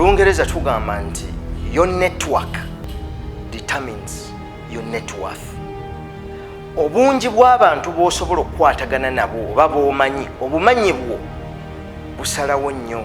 lungereza tugamba nti your network determines your net worth obungi bw'abantu b'osobola okukwatagana nabo oba b'omanyi obumanyi bwo busalawo nnyo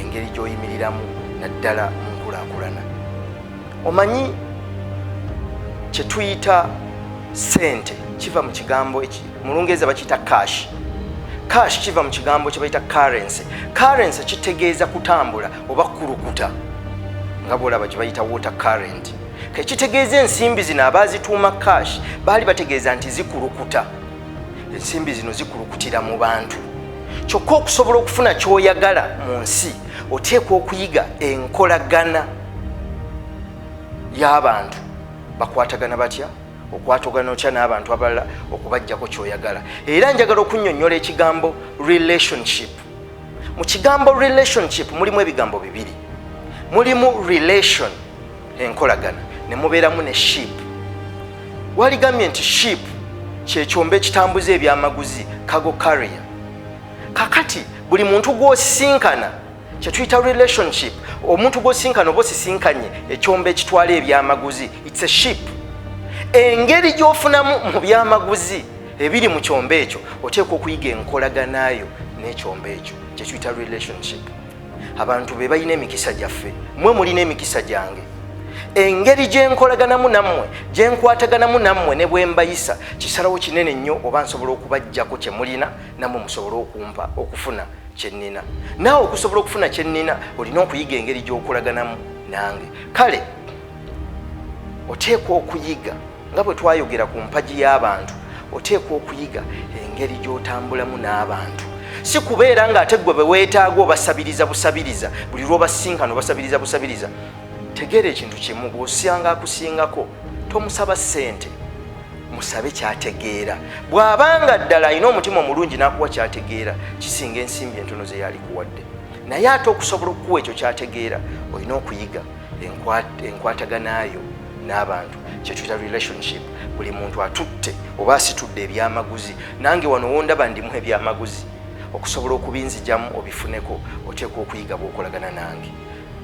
engeri gy'oyimiriramu naddala mu nkulaakulana omanyi kye tuyita sente kiva mu kigambo mu lungereza bakiyita cash cash kiva mu kigambo kye bayita currency currency kitegeeza kutambula oba kulukuta nga bwolaba gye bayita water current kekitegeeza ensimbi zino abaazituuma cash baali bategeeza nti zikulukuta ensimbi zino zikulukutira mu bantu kyokka okusobola okufuna kyoyagala mu nsi oteekwa okuyiga enkolagana y'abantu bakwatagana batya okwatogana otya n'abantu abalala okubajjako kyoyagala era njagala okunyonyola ekigambo relationship mu kigambo relationship mulimu ebigambo bibiri mulimu relation enkolagana ne mubeeramu ne ship waligambye nti ship kyekyomba ekitambuza ebyamaguzi cargo carrier kakati buli muntu gwosinkana kyetuyita relationship omuntu gwosinkana oba osisinkanye ekyomba ekitwala ebyamaguzi its a ship engeri gyofunamu mu byamaguzi ebiri mu kyombo ekyo oteekwa okuyiga enkolaganaayo n'ekyombo ekyo kyekiyita relationship abantu be balina emikisa gyaffe mwe mulina emikisa gyange engeri gyenkolaganamu nammwe gyenkwataganamu nammwe ne bwembayisa kisalawo kinene nnyo oba nsobola okubajjako kye mulina nammwe musobole okumpa okufuna kyennina naawe okusobola okufuna kyennina olina okuyiga engeri gyokolaganamu nange kale oteekwa okuyiga nga bwe twayogera ku mpagi y'abantu oteekwa okuyiga engeri gy'otambulamu n'abantu si kubeera ng'ate gwe be weetaaga obasabiriza busabiriza buli lw'obasinkana obasabiriza busabiriza tegeera ekintu kimu bw'osanga akusingako tomusaba ssente musabe kyategeera bw'abanga ddala alina omutima omulungi n'akuwa kyategeera kisinga ensimbi entono ze yaalikuwadde naye ate okusobola okukuwa ekyo kyategeera olina okuyiga enkwataganayo n'abantu kyetuyita relationship buli muntu atutte oba asitudde ebyamaguzi nange wano wondaba ndimu ebyamaguzi okusobola okubinzijamu obifuneko oteekwa okuyiga bwokolagana nange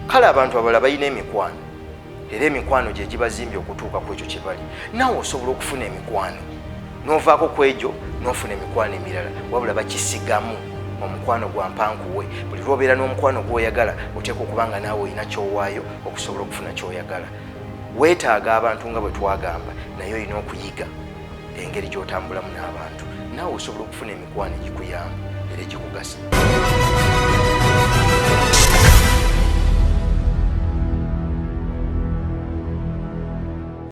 kale abantu abala balina emikwano era emikwano gyegibazimbye okutuuka ku ekyo kyebali nawe osobola okufuna emikwano novaako ku egyo nofuna emikwano emirala wabula bakisigamu omukwano gwa mpankuwe buli lwobeera n'omukwano gwoyagala oteekwa okuba nga naawe olina kyowaayo okusobola okufuna kyoyagala weetaaga abantu nga bwe twagamba naye olina okuyiga engeri gy'otambulamu n'abantu naawe osobola okufuna emikwano egikuyamba era egikugasa